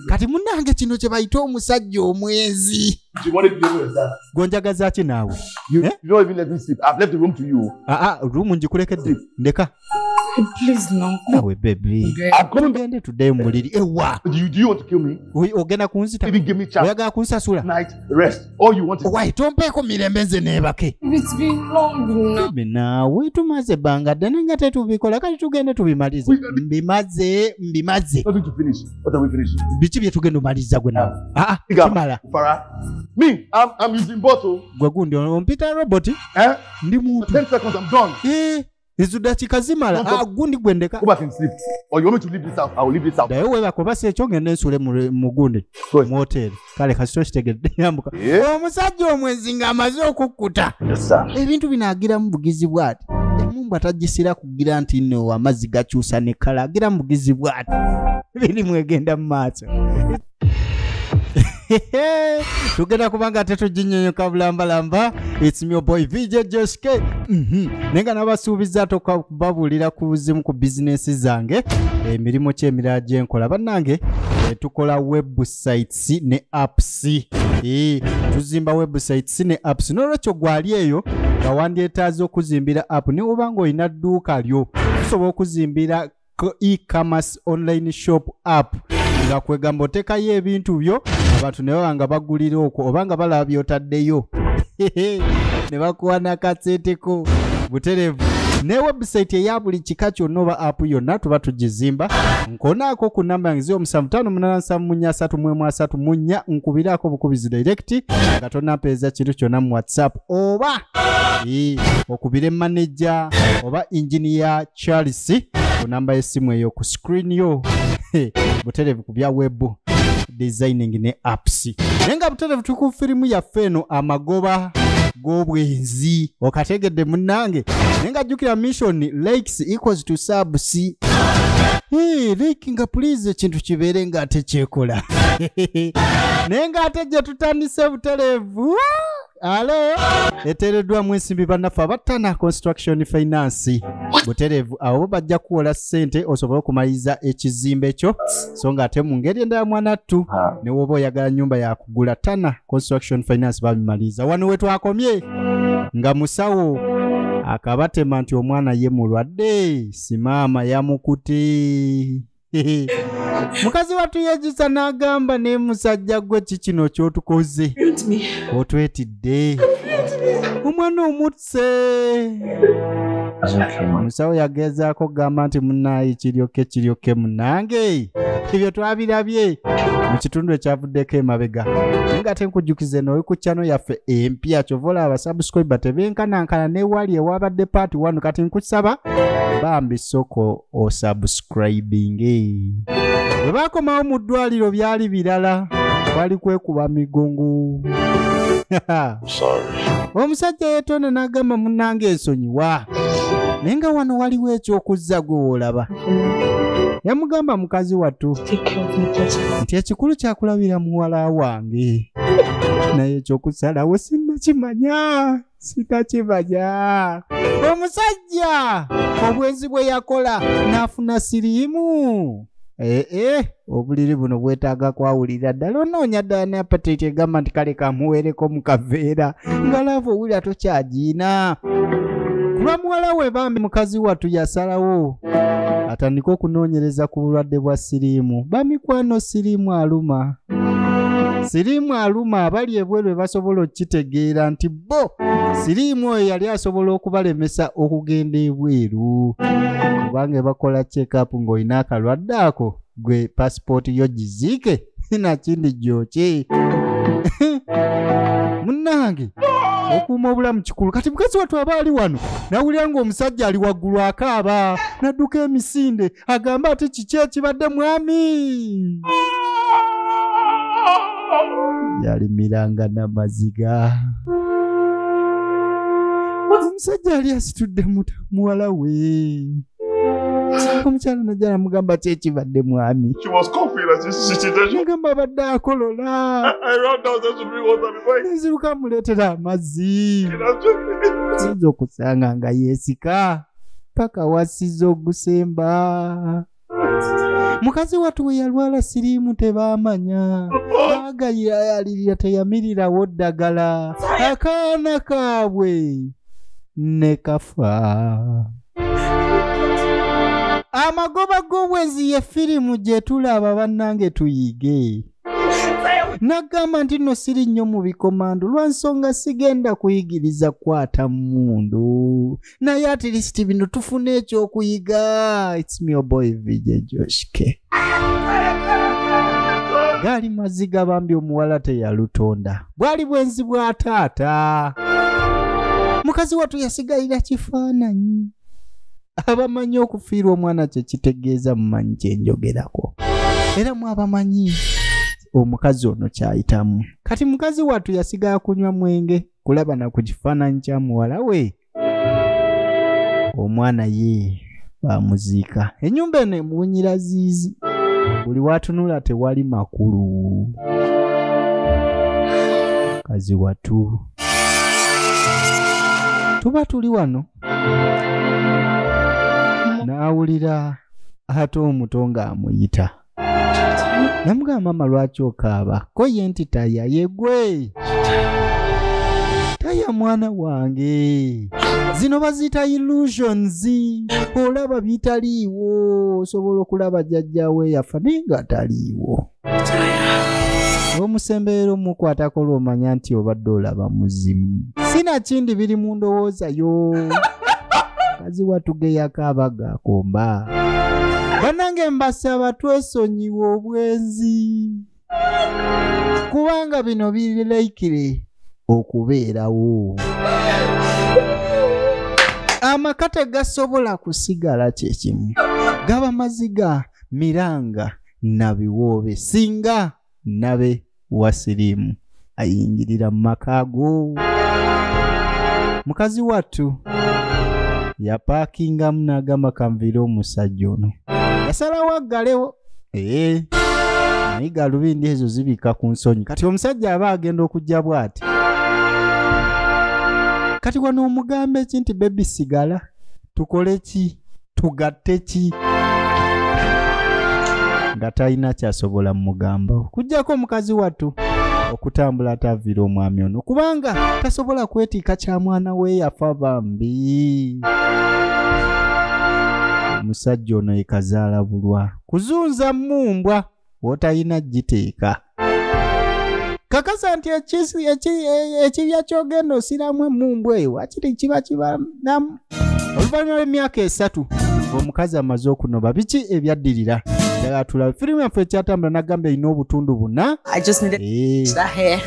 kati munange kino kyebayita omusajja omwenzi gonjagazaki naawe rumu njikulekedde ndeka nawe bebigende tuddeyo mumuliri ewa ogenda kunzita oyagala kunsasula All you want is Why tompeeko mirembe nze neebake. It's been long enough. Baby naawe tumaze ebbanga ddene nga tetubikola kati tugende tubimalize. Mbimaze mbimaze. Nothing to finish. What are we finishing? Biki bye tugenda omaliza gwe naawe? Ah, ah kimala. Fara. Me, I'm, I'm using bottle. Gwe gundi ompita robot. Eh? Ndi muntu. 10 seconds, I'm done. Eh. izo dakika zimala Don't talk. agundi gwendeka Go back and sleep. Or you want me to leave this house? I will leave this house. naye webaka oba si ekyo ngenda ensule mu- mu gundi Sorry. mu hoteeri kale kasito kitegedde yambuka Yeah. omusajja omwenzi ng'amaze okukkuta Yes, sir. ebintu bino agira mu bugizi bwati emumbwa tagisira kugira nti no amazzi gakyusa ne kala agira mu bugizi bwati birimu egenda mu maaso tugenda kuba nga ate tuginyonyoka bulambalamba its me your boy vj josh k Mhm. naye nga nabasuubiza ate okubabuulira ku zimu ku bizinensi zange emirimu ki emirala gye nkola bannange eh, tukola websites ne apps Eh, tuzimba websites ne apps n'olwekyo gwali eyo nga wandyetaaza okuzimbira app newoba nga olina dduuka lyo tusobola okuzimbira e-commerce online shop app nga kwegamba otekayo ebintu byo abantu ne baba nga bagulira okwo oba nga balaba byotaddeyo ne bakuwa nakatseteko buterevu ne website eya buli kika kyonna oba app yonna tuba tugizimba nkonaako ku namba yange zio omusanvu taano munana nsanvu munya asatu mwemu asatu munya nkubiraako obukubizi direct nga tonampeereza kintu kyonna mu whatsapp oba okubire maneja oba inginiya charles ku namba y'essimu eyo ku screen yo buterevu ku bya webu designing ne apps naye nga buterevu tuli ku firimu yaffe eno amagoba g'obwenzi okategedde munnange naye nga jjukira mission likes equals to subs Hey, like nga please ekintu kibeere nga ate kyekola naye nga ate gye tutandise buterevu alo eteereddwamu ensimbi bannaffe abattana construction finance butereevu abo bajja kuwola ssente osobole okumaliriza ekizimbe kyo so nga ate mu ngeri endala mwanattu ne woba oyagala nnyumba yakugula tana construction finance babimaliriza wano we twakomye nga musawo akabatema nti omwana ye mulwadde simaama yamukute mukazi watu yejusa n'agamba naye musajja gwe ki kino kyotukoze otwetidde omwana omutse omusawo yagezaako okugamba nti munaayi kiryoke kiryoke munange ebyo twabirabye mu kitundu ekyavuddeko emabega naye nga ate nkujjukiza eno oli ku chano yaffe empya kyova olaba abasubscribe tebenkanankana newali ewabadde part 1 kati nkusaba bambi soko osubscribinge bwe bakomawo mu ddwaliro byali birala kwali kwekuba migongo omusajja yetonda n'agamba munnanga ensonyiwa naye nga wano waliwo ekyokuzza gwe woolaba yamugamba mukazi wattu nti ekikulu kyakulabira muwala wange naye ekyokusalawo sinnakimanya sitakimanya omusajja obwenzi bwe yakola n'afuna siriimu ee eh, eh, obuliri buno bwetaaga kwawulira ddala onoonya ddala ne apatiti egamba nti kale kamuweereko mu kaveera nga laavu owulira tokyagiina kulwa muwala we bambi mukazi wattu yasalawo atandike okunoonyereza ku bulwadde bwa siriimu bamikwano siriimu aluma siriimu aluma abali ebweru ebasobola okukitegeera nti bo siriimu oyo yali asobola okubalemesa okugenda ebweru kubanga ebakola checkup ng'olina akalwadde ako gwe pasipooti yo giziike nakindi gyoki munnange okuuma obulamu kikulu kati mukazi wattu aba ali wano nawulira ng'omusajja ali waggulu akaaba nadduka emisinde agambe ati kiki ekibadde mwami yalimiranga namaziga omusajja yali asitudde muwala we omukyala najja namugamba ki ekibadde mwami mugamba abadde akolola neziruka amuleetera amazzi oyinza okusanga nga yeesika paka wasiza ogusemba mukazi watu we yalwala siriimu tebaamanya baagayira yalirira teyamirirawo ddagala akaana kaabwe ne kafa amagoba g'obwenzi ye firimu gye tulaba bannange tuyige nagamba nti no siri nnyo mu bikomando lwa nsonga sigenda kuyigiriza kwata mundu naye at least bino tufuna ekyokuyiga its me your boy vj joshke gaali maziga bambi omuwala teyalutonda bwali bwenzi bwa taata mukazi watu yasigalira kifaananyi abamanyi okufiirwa omwana kyekitegeeza mumanyi kyenjogerako era mwabamanyi omukazi ono kyayitamu kati mukazi watu yasigala kunywa mwenge kulaba na ku kifaananyi kya muwala we omwana ye bamuziika ennyumba eno emuwunyira ziizi buli watunula tewali makulu kazi watu tuba tuli wano n'awulira ate omuto ng'amuyita namugamba maama lwaki okaaba ko ye nti taya yegwe taya mwana wange zino baziyita illusions olaba bitaliiwo osobola okulaba jajjawe yafa naye nga ataliiwo omusembeero mukwatako lwomanya nti obadde olaba muzimu sinakindi biri mu ndowooza yo ziwa tugeyako abaga komba banange mbasaba twesonyiwa obwenzi kubanga bino biri laikire okubeerawo amaka tegasobola kusigala kyekimu gaba maziga miranga na biwoobe singa nabe wa siriimu ayingirira mu maka ago mukazi wattu yapaakingamu n'agamba kanviire omusajja ono yasalawo aggalewo ee naye galubindi ezo zibika ku nsonyi kati omusajja aba agenda okujja bw'ati kati wano omugamba eki nti bebi sigala tukole ki tugatte ki nga talina kyasobola mugamba okujjako omukazi wattu okutambula ataviira omwami ono kubanga tasobola kwetiika kya mwana we yafa bambi omusajja ono yekazaala bulwa kuzunza mumbwa wotayina giteeka kakasa nti ekibya kyogenda osiramu emumbu eyo wakiri kiba kibanamu oluvannyuma lw'emyaka esatu omukazi amaze okunoba biki ebyaddirira atulaba firimu yaffe ekyatambula nagamba erina obutundu buna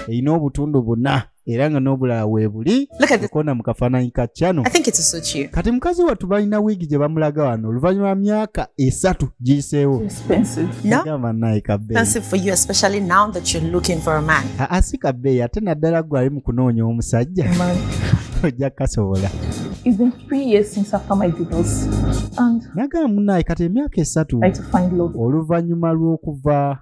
erina obutundu buna era nga n'obulala weebuli okona mu kafaananyi ka cano kati mukazi wattu balina wiigi gye bamulaga wano oluvannyuma myaka esatu giyiseewo asi kabbeeyi ate naddala gwe ali mu kunoonya omusajja ojja kasobola nagamba munaayi kati emyaka esatu oluvannyuma lw'okuva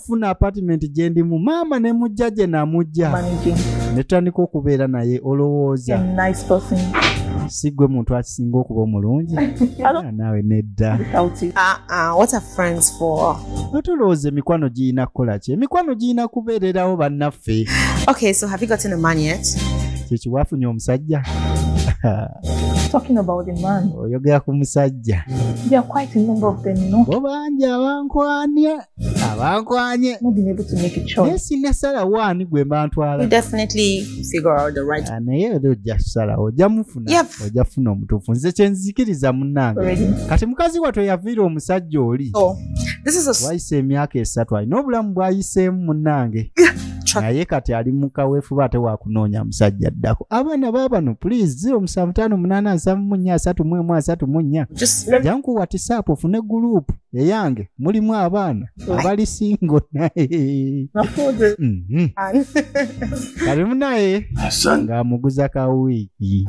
funa apartment gyendimu maama ne mujja gye namujja ne tutandika okubeera naye olowooza nice si gwe muntu akisinga okuba omulungi ah, naawe nedda ah, ah, otolowooza emikwano girina kukola ki emikwano girina kubeererawo bannaffe kyekiwafunye omusajja oyogera ku musajja bo bangi abankwanya abankwanye naye sinasalawo ani gwe mbantwala ah, naye era ojja kusalawo ojja mufuna ojja funa omutuufu nze kyenzikiriza munnange kati mukazi watwe yaviira omusajja oli oh, wayise emyaka esatu alina obulamu bwayiseemu munnange naye kati ali mukawefuba ate wakunoonya musajja addako abaana babano please 0758 jankuwa tisapu ofune gulupu eyange mulimu abaana abali singo naye mhm. kalimu naye ng'amuguza ka wiiki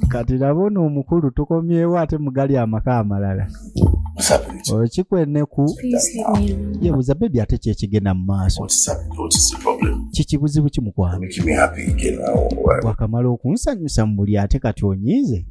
kati laba ono omukulu tukomyewo ate mugali amaka amalala okikweneku yebuza bebi ate kyekigenda mu maaso kikibuzibu kimukwano wakamala okunsanyusa mu buli ate kati onyiize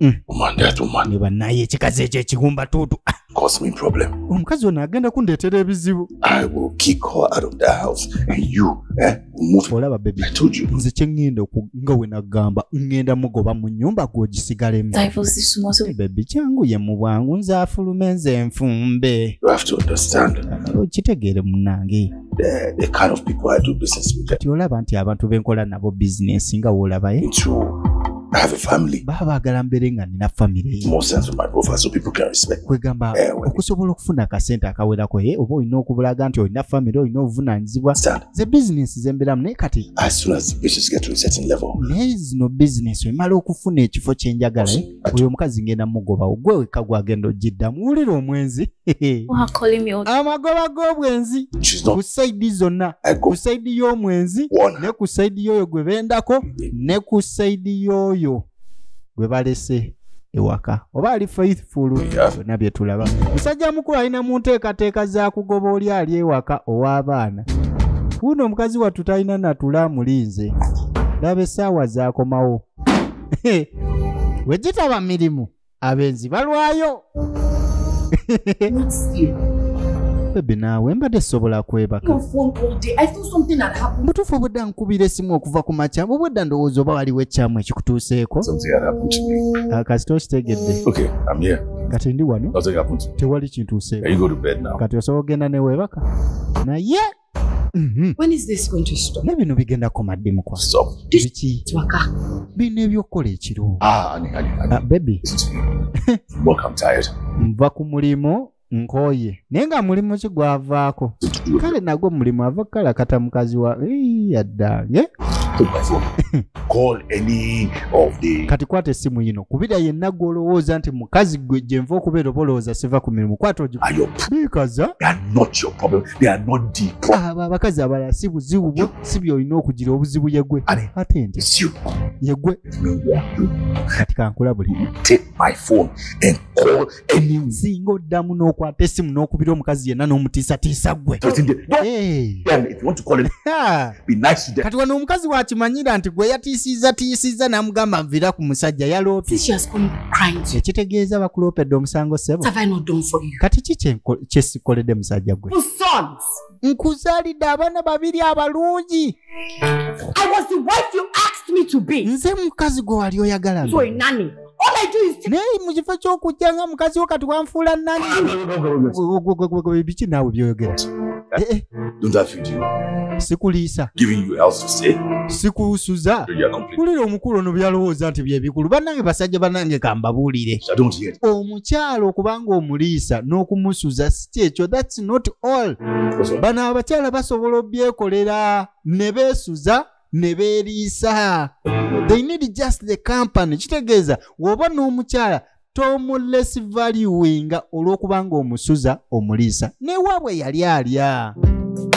Mm. woman that woman ne banaye ekikazi ekyo ekigumba tuutu Ah, cause me problem omukazi ono agenda kundeetera ebizibu i will kick her out of the house and you eh, will move olaba bebi i told you nze kyeŋŋenda oku- nga we nagamba ŋŋenda mugoba mu nyumba gwe ogisigalemu Divorce is small, so bebi kyangu ye mu bwangu nze afulume nze nfumbe you have to understand okitegeere munange the, the kind of people I do business with. Kati olaba nti abantu benkola nabo business nga wolabaye. Eh? True. I have a family. Baba bagala mbere nga nina family. More sense of my profile so people can respect. Kwegamba eh, okusobola okufuna ka sente akawera ko ye eh, obo ino okubulaga nti olina family olina obuvunanyizibwa. The business zembera mne kati. As soon as the business get to a certain level. There is no business. Emala okufuna ekifo kyenjagala. oyo omukazi ngenda mugobawo gwe wekka gwagenda ogiddamu wulira omwenzi amagoba g'obwenzi ku saidi zonna ku saidi y'omwenzi ne ku saidi y'oyo gwe bendako ne ku saidi y'oyo gwe balese ewaka oba ali faithful byonna bye tulaba musajja mukulu alina mu nteekateeka za kugoba oli ali ewaka ow'abaana wuuno omukazi wattu talina natula amulinze laba essaawa zaakomawo bwe gitaba mirimu abenzi balwayo bebe naawe mbadde sobola kwebaka mutuufu obudda nkubira esimu okuva ku makya obwedda ndowooza oba waliwo ekyamu ekikutuuseeko ah, kasita okitegedde kati ndi wano tewali kintuuseeko kati osobola okugenda newebaka naye Mhm. When is this going to stop? Ne bino bigenda koma ddi mukwa. Stop. Biki? Twaka. Bino ebyokola ekiro. Ah, ani ani. Ah, baby. Work I'm tired. Mva ku mulimu nkoye. Naye nga mulimu ki gwavaako. Kale nagwo mulimu ava kala kata mukazi wa yadda. Ye? Call any of the Kati kwata esimu yino kubira yenna gwolowooza nti mukazi gwe gyenva okubeera oba olowooza siva ku mirimu kwata ogi. Are your problem? Not your problem. abo abakazi abalala si buzibu bwo si byolina okugira obuzibu yegwe ate nti yegwe kati kankulabuli singa oddamu n'okwata essimu n'okubira omukazi yenna n'omutiisatiisa gwe kati wano omukazi wakimanyira nti gwe yatiisiza tiisiza namugamba nvira ku musajja yaloopyekitegeeza bakuloopedde omusango sebo kati ki kyesikoledde musajja gwe nkuzalidde abaana babiri abalungi nze mukazi gwe wali oyagala All I do is take naye mu kifo ky'okujja nga mukazi wo kati wanfuula nani biki naawe byoyogera Eh, eh, Don't I feed you? sikuliisa Giving you a house to stay? sikusuza You are complaining. kulira omukulu ono byalowooza nti byebikulu banange basajja banange kambabuulire I don't hear it. omukyala okuba ng'omuliisa n'okumusuza si kyekyo thats not all What's wrong? bano abakyala basobola obyekolera ne beesuza ne beeriisa they need just the company kitegeeza woba n'omukyala tomuless valuinga olw'okuba nga omusuza omuliisa newaabwe yali alya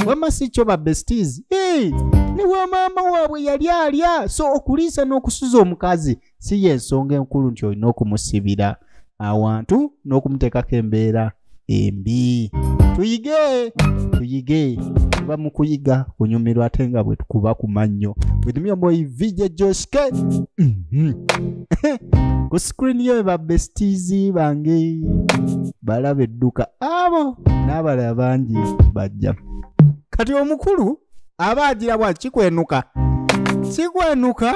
wama si kyo ba besties hey! ne wa maama waabwe yali alya so okuliisa n'okusuza omukazi si yensonga enkulu nti olina okumusibira awantu n'okumuteekako embeera embi tuyige tuyige tuba mu kuyiga kunyumirwa ate nga bwe tukuba ku mannyo withmyomoyi vj joske mhm. ku screen yo eba besties bange balaba edduka abo n'abalala bangi bajja kati omukulu aba agira bwa kikwenuka kikwenuka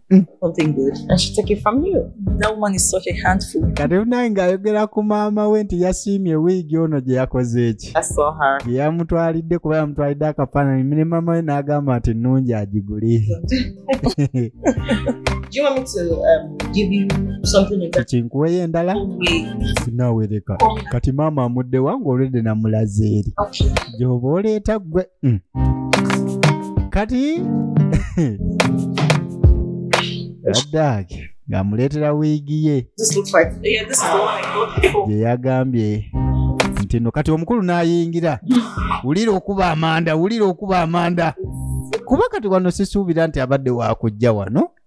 Mm. Something good. And she take it from you. That woman is such a handful. kati unaye ng'ayogera ku maama we nti yasiimye wiigi ono gye yakoze eki I saw her. gye yamutwalidde kuba yamutwalidde akafaananyi ne maama we n'agamba nti nnungi agigule Do you want me to um, give you something in that kinkuweyo endala way? sinaawereka kati maama amudde wange olwedde namulaze eri Okay. gyoba oleeta ggwe Mm. kati addaaki ng'amuleetera wiigi ye This looks like yeah, this is the one I got before. gye yagambye nti no kati omukulu n'ayingira wulira okuba amanda wulira okuba amanda kuba kati wano sisuubira nti abadde wakujja wano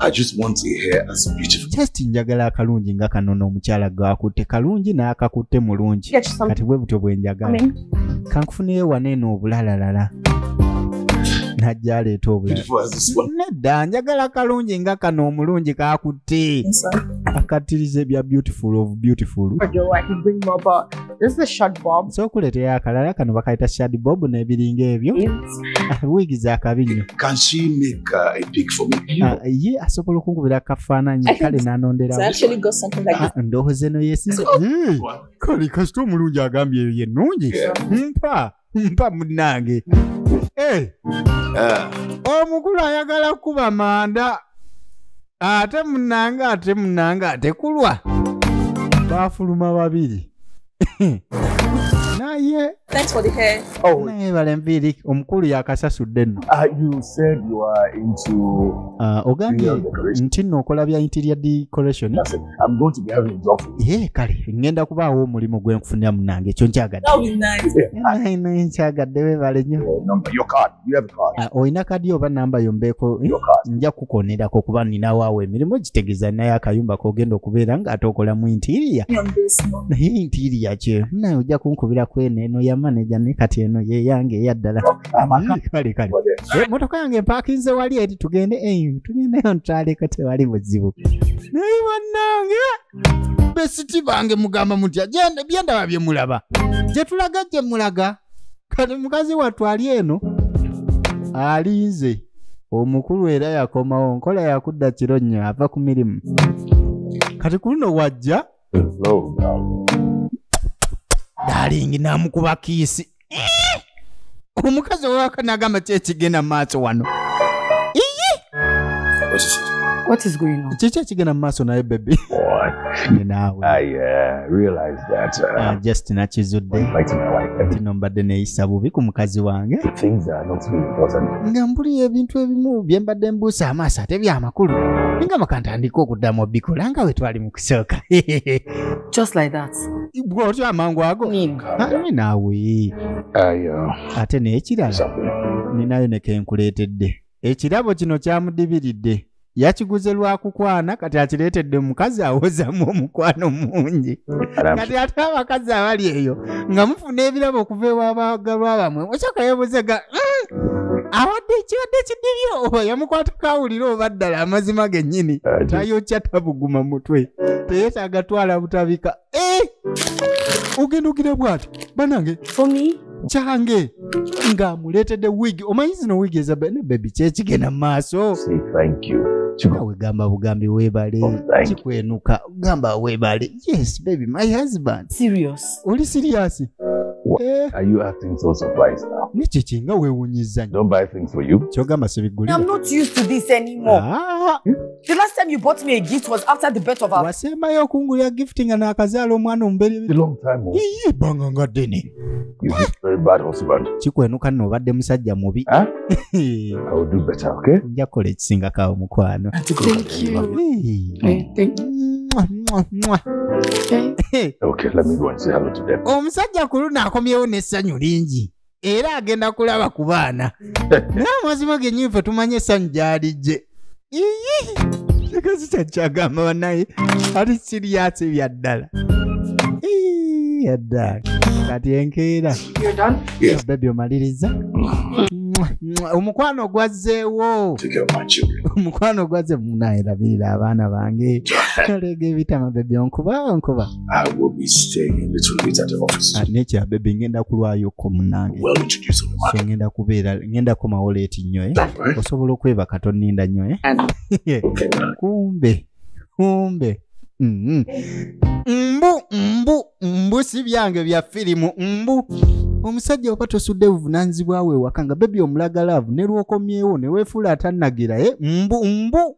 I just want a hair as beautiful. Just njagala akalungi nga kano n'omukyala gwakutte kalungi n'akakutte mulungi kati bwe butyo bwe njagala kankufuneyo wano eno obulalalala najja aleeta obulalanedda njagala kalungi nga kano omulungi kakutte akatiriza ebya beautiful of beautiful This is the short bob. So kuletea akalala kano bakayita shad bob n'ebiringa ebyo. Wig za kabi nnyo. Can she make uh, a pic for me? Uh, ye asobola okunkubira akafaananyi kale n'anondera. It's actually got something like that. Ah, Ndohoze no yesize. Kali kasita omulungi agambye eyo ye nnungi. Mpa. mpa munange eh. ah. omukulu ayagala kukuba manda ate munange ate munange ate kulwa bafuluma babiri naye oh. naye balenviiri omukulu yakasasudde nno ah, ah, ogambye nti nno okola bya interior decoration I'm going to be having a job for you. Eh, kale ngenda kubaawo omulimu gwe nkufunira munange ekyo nkyagadde. That would be nice. Yeah. Naye naye nkyagadde weebale nnyo. Your number, your card. You have a card. Ah, Olina kadi oba namba yo mbeeko eh, Your card. nja kukonerako kuba ninawo awo emirimu gitegeeza naye akayumba k'ogenda okubeera ng'ate okolamu intiiriya. On this one. Naye intiiriya kye naye ojja kunkubira kweno eno ya maneja ne kati eno yeyange eyaddala. amaka kale kale Eh, motoka yange empakinze wali eri tugende eyo tugendeyo ntwaleko tewali buzibu naye bannange besiti bange mugamba mutya Gye- byendaba bye mulaba gye tulaga gye mulaga kati mukazi wattu ali eno alinze omukulu era yakomawo nkola yakudda kiro nnyo ava ku mirimu kati ku luno wajja dalingi namukuba kiisi eh! omukazi owaka nagamba ki ekigenda maaso wano kiki ekigenda mumaaso naye bebi just nakizudde tino mbadde neyisa bubi ku mukazi wange nga mbuli ebintu ebimu byembadde mbuusa amaaso ate byamakulu ninga makantandika okuddamu obikola nga wetwali kusooka just like that bwotyo amangu ago Ani naawe ayo ate n'ekirala ninayo ne kenkuleetedde ekirabo kino kyamudibiridde yakiguze lwa kukwana kati akireetedde omukazi awozamu omukwano mungi kati ate abakazi abali eyo nga mufuna ebirabo okuva ewabaagalwa bamwe okyaka yabuzaga mm, abadde kibadde kidibyo oba yamukwata kawulira oba ddala amazima gennyini tayokya tabuguma mutwe teyetaaga twala butabika eh! ogenda ogira bwati banange kyange ng'amuleetedde wigi omanyi zino wigi eza bebi kyekigenda mu maaso wegamba bugambi webale oh, kikwenuka gamba webale yes baby my husband serious oli serious eh. are you acting so surprised now ni chichi nga we unyiza don't buy things for you choga masibiguli i'm not used to this anymore ah. the last time you bought me a gift was after the birth of our wasema yo kungulya gifting na akazalo mwana umbeli long time ago oh. banga ngadeni You have very bad husband. Kikwenuka no badde musajja mubi. Huh? I will do better, okay? Nja kola ekisinga kawo mukwano. Thank you. Hey, thank you. Mwah, mwah, mwah. Okay. okay, let me go and say hello to them. Omusajja kuluna akomyewo n'essanyu lingi. Era agenda kulaba ku baana. Naye amazima gennyini ffe tumanye essanyu gy'alijje. kikazi kyakyagamba banaye ali siriyasi bya ddala yadda kati enkeera bebi omaliriza omukwano gwazzeewo omukwano gwazze munaerabirira abaana bange olega ebitama bebi onkuba onkuba I will be staying a little bit at the office. Ah, nature baby ngenda kulwayo ko munange. Well introduce on the market. So ngenda kubeera ngenda komawo late nnyo eh. Right. Osobola okweba katoninda nnyo eh. Okay, right. Kumbe. Kumbe. Mm -hmm. Mbu mbu mbu si byange bya filimu mbu. omusajja oba tosudde buvunanyizibwa we ewaka nga bebi omulaga laavu ne lwokomyewo ne weefuula atanagira e eh? mbu mbu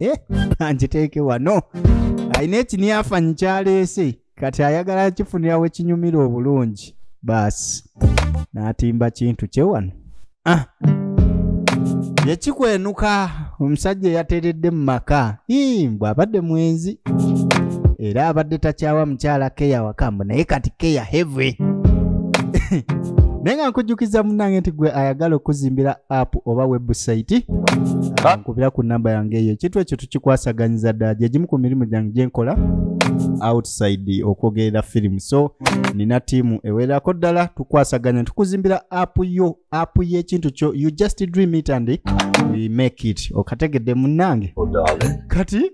Eh, angiteeke wano alina ekiniafanyi kyaleese kati ayagala kifunira we kinyumira obulungi baasi n'atimba kintu kye wano ah. yekikwenuka omusajja eyateredde mu maka Ii, mbu abadde mwenzi era abadde takyawa mukyala keya wakambo naye kati keya heavy naye nga nkujjukiza munange nti gwe ayagala okuzimbira app oba website ah, nkubira ku namba yange eyo ekintu ekyo tukikwasaganyiza ddala gyegimu ku mirimu gyange gyenkola outside okwogerera firimu so nina tiimu ewererako ddala tukwasaganya tukuzimbira app yo app y'ekintu kyo you just dream it and we make it okategedde munnange oh, kati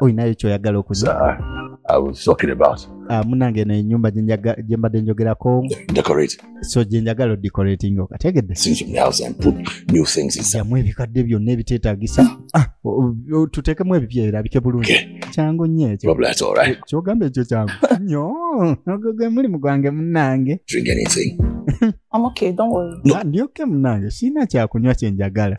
olinayo kyoyagala okuza ah, munange no enyumba gyembadde njogerako so gyenjagala odecorating okategedde jamu ebikadde byonna ebiteetagisa ah, tuteekemu ebipya erabike bulungi kyangu nyo ekyo kyogamba ekyo kyangu nyo ogwe mulimu gwange munange I'm okay, don't worry. No. Ah, ndyoke munange sirina kyakunywa kye njagala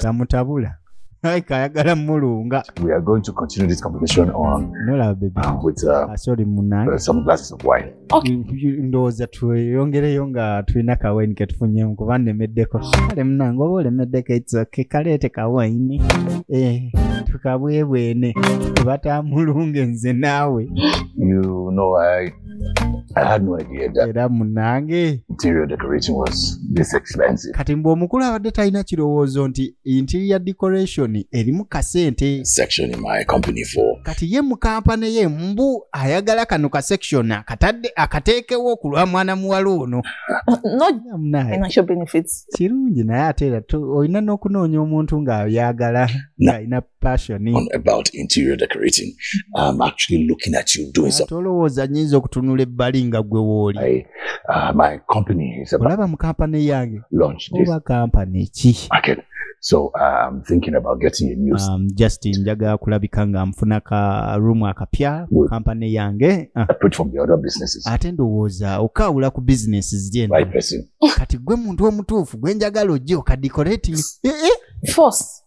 tamutabula like ayagala mulunga we are going to continue this conversation on no love baby uh, with uh, uh, sorry munange uh, some glasses of wine okay ndowooza tweyongereyo nga tulina ka wine ke tufunyemu kuba nnemeddeko kale munange oba olemeddeko it's okay kaleete ka wine eh tukabwebwene tubatamulunge nze naawe you know i I had no idea that era munange interior decorating was this expensive. kati mbu omukulu abadde talina kirowoozo nti interior decoration erimu kasente Section in my company for kati ye mu kampani ye mbu ayagala kano ka section akatadde akateekewo ku lwa mwana muwala ono Not Era munange financial benefits. kirungi naye ate era to- olina n'okunoonya omuntu ng'ayagala ng'alina passion on about interior decorating i'm actually looking at you doing something tolowooza nyinza okutunula ebbali nga gwe wooli I, uh, my company is about olaba mu kampani yange launch this oba kampani ki okay so uh, i'm thinking about getting a new um, just njaga kulabika nga nfuna ka room akapya mu kampani yange uh. apart from the other businesses ate ndowooza okaawula ku business zye right person kati gwe muntu omutuufu gwe njagala ojje okadikorating eh, eh. force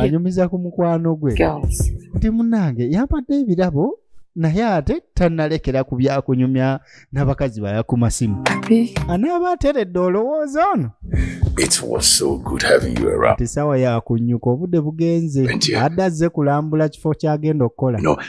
anyumiza ku mukwano gwe nti munange yampadde ebirabo naye ate tannalekera ku byakunyumya n'abakazi baya ku masimu anaaba ateredde olowooza ono tisaawa yakunnyuka obudde bugenze adde azze kulambula kifo ky'agenda okukola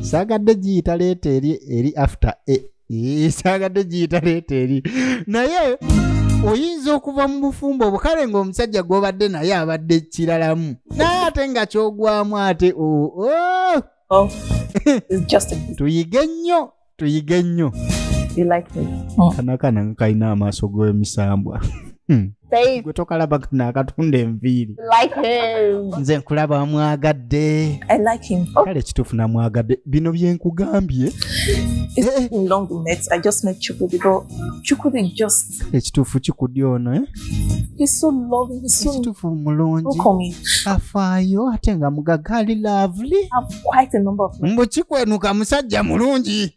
saagadde giyita leeta eri eri after a e, saagadde giyita leeta eri naye oyinza okuva mu bufumbo obwo kale ng'omusajja gw'obadde naye abadde kiralamu naye ate nga kyogwamu ate oh, oh. Oh, tuyige nnyo tuyige nnyo You like this? kana kana nga kalina amaaso g'emisambwa Hmm. Babe, gwe tokalaba kana akatunda enviiri you like him. nze nkulaba wamwagadde I like him. kale kituufu namwagadde bino byenkugambye It's been long we met. I just met Chukudi, but Chukudi just kale ekituufu kikudi ono eh? ekituufu mulungi afaayo ate nga mugaga ali lovely mbu kikwenuka musajja mulungi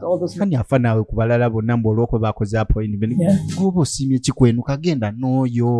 oh, kani afa naawe ku balala bonna mbu olwokuba bakoze appointment goba osiimye kikwenuka genda n'oyo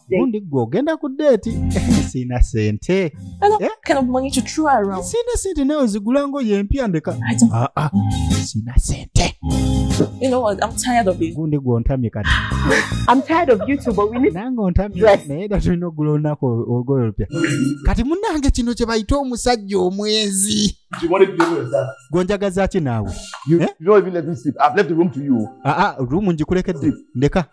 gundi gwe ogenda ku deeti siina sente eh? siina sente nawe zigula ngoye empya ndeka ah, ah. siina sente You know what? I'm tired of it. Gundi gwe ontamye kati. I'm tired of you too, but we need Nange ontamye. Yes. Naye da tulina okugula olunaku olugoye olupya. Kati munnange kino kye bayita omusajja omwezi. Gwe njagaza ki naawe? You, eh? you don't even let me sleep. I've left the room to you. Ah ah, room njikulekedde. Ndeka.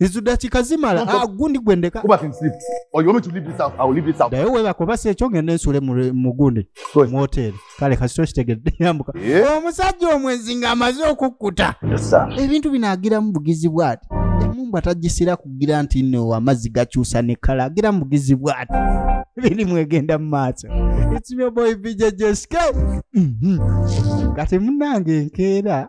izo dakika zimala Don't talk. ah, gundi gwendeka Go back and sleep. Or you want me to leave this house? I will leave this house. naye webaka oba si ekyo ngende nsule mu- mu gundi Sorry. mu hoteeri kale kasito kitegedde yambuka Yeah. omusajja omwenzi ng'amaze okukkuta Yes, sir. ebintu bino agiramu bugizi bwati emumbwa tagisira kugira nti no amazzi gakyusa ne kala agiramu bugizi bwati birimu egenda mu maaso It's your boy BJJSK. Mhm. kati munange enkeera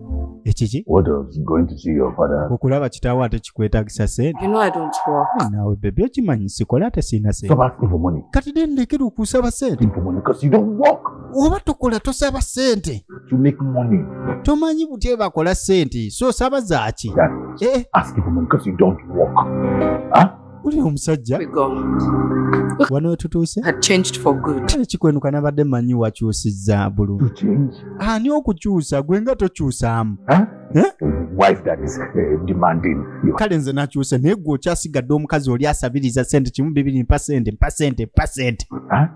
ekiki okulaba kitaawo ate kikwetagisa sente nawe bebi okimanyi sikola ate sirina sente kati de ndekera okusaba sente oba tokola tosaba sente tomanyi butye bakola sente so osaba zaaki uli omusajja wano wetutuuse kikwenuka nabadde manyi wakyusizza bululu ani okukyusa gwe nga tokyusaamu eh? eh, kale nze nakyuse naye gwe okyasigadde omukazi oli asabiriza sente kimu bibiri mpa sente mpa sente mpa sente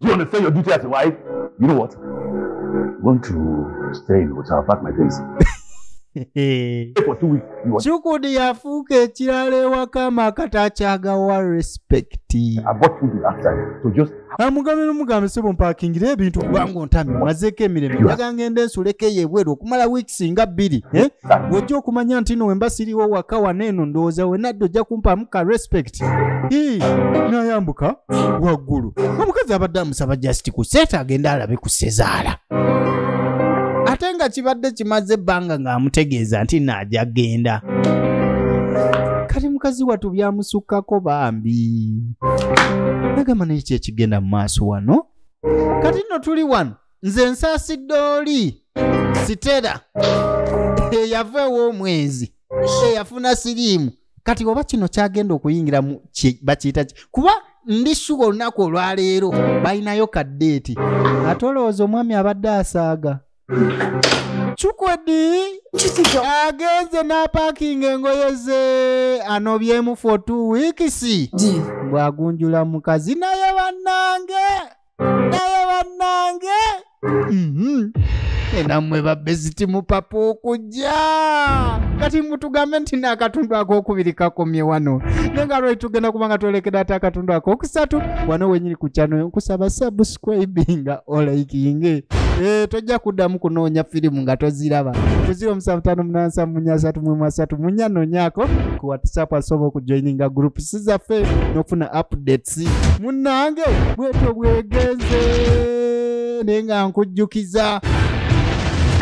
you understand your duty as a wife? You know what? I'm going to stay in the hotel, pack my things. kyukudi yafuuka ekirala ewaka amakata akyagawa respectamugambe nomugambe sebo mpakingire ebintu kubanga ontami mazeeko emirembe aga ngenda ensulekeyo ebweru okumala weeks nga bbiri eh? wojja okumanya nti no wemba siriwo waka wana eno ndowooza wenadda ojja kumpaamu ka respect nayambuka waggulu omukazi abadde amusaba just ku seeta agenda alabe ku sezaala ate nga kibadde kimaze ebbanga ng'amutegeeza nti naaja genda kati mukazi watu byamusukkako bambi nagamba naye kyekigenda mu maaso wano kati nno tuli wano nze nsaasidde oli sitera eyava ew'omwezi eyafuna siriimu kati oba kino kyagenda okuyingiramu bakiyita ki kuba ndi shuga olunaku olwaleero balinayo kaddeeti ate olowooza omwami abadde asaaga cukwedi agenze n'apakinga engoye ze anobyemu for two weeks bw'agunjula mukazi naye bannange naye bannange mhm. enamwe babeziti mupapa okujja kati mutugambe nti naakatundu akokubiri kakomye wano naye nga lwali tugenda kuba nga twolekera ate akatundu akokusatu wano wenyini ku kyano nkusaba subscribinga olaikinge e, tojja kuddamu kunoonya firimu nga toziraba kuzira omusanvu tano munansa munya asatu mwemu asatu munya nonyako ku whatsapp asobola okujoininga groups zaffe n'okufuna updates taxi munange bwetyo bwegenze naye nga nkujjukiza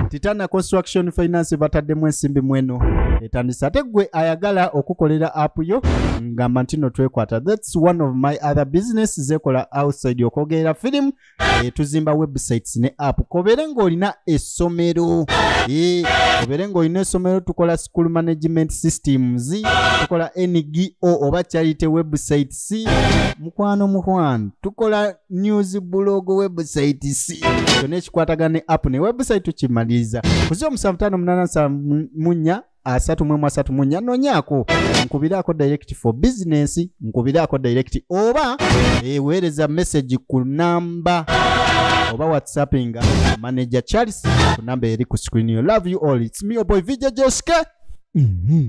titana construction finance bataddemu ensimbi mweno etandise ate gwe ayagala okukolera app yo ngamba ntino twekwata thats one of my other business zekola outside okwogerera firimu eh, tuzimba websites ne app kobere ng'olina essomero eh, kobere ng'olina essomero tukola school management systems tukola ngo oba charity websites mukwano mukwano tukola news blog websites kyona ekikwatagana ne app ne website tukimaliriza kuzi omusanvu tano munana munya asatu mu emu asatu mu nnya nonyaako nkubiraako direct for business nkubiraako direct oba eweereza message ku namba oba whatsappinga manager charles ku namba eri ku screen yo love you all its me oboy vijj joske mm -hmm.